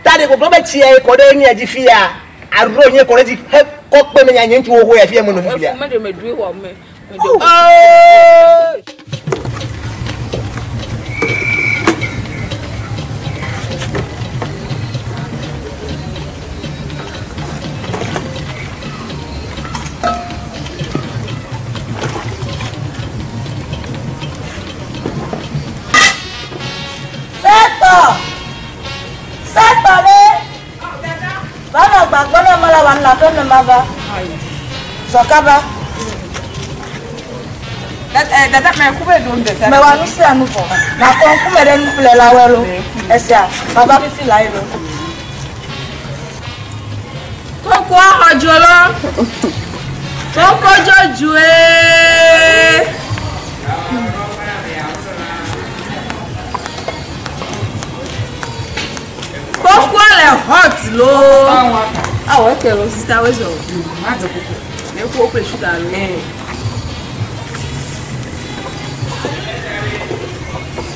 Ta ɖeko gblɔ be tsia ye kɔ ɖe mia dzi fia aɖo nye kɔ ɖe dzi he kɔ kpe menye nye ŋutsuwo ho ya fia menɔ fifia. Efu meɖe meɖoe wɔ me. Sɛtɔ! Sɛtɔ ɖe! Va nɔ agba gbɔ ne mala wòanɔ aƒe ne mava. Zɔ kaba. Mewa nu sia nu vɔ. Makɔ ŋkume ɖe nuƒlelawɔe lo. Esia, mava fifi lae lo. Koko xɔdzo lɔ. Koko dzodzoe. Koko le hot lo. Awɔ eke lo sista wezɔ. Ma dze koko. Ne ko ople sugar lo. Eh.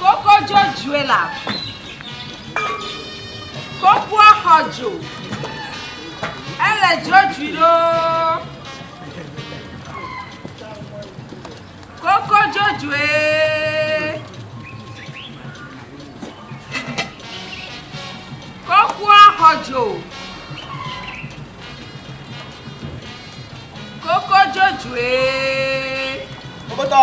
Koko dzodzoe la, kokoa xɔ dzo. Ele dzodzoe loo. Koko dzodzoe. Kokoa xɔ dzo. Koko dzodzoe. Koko tɔ.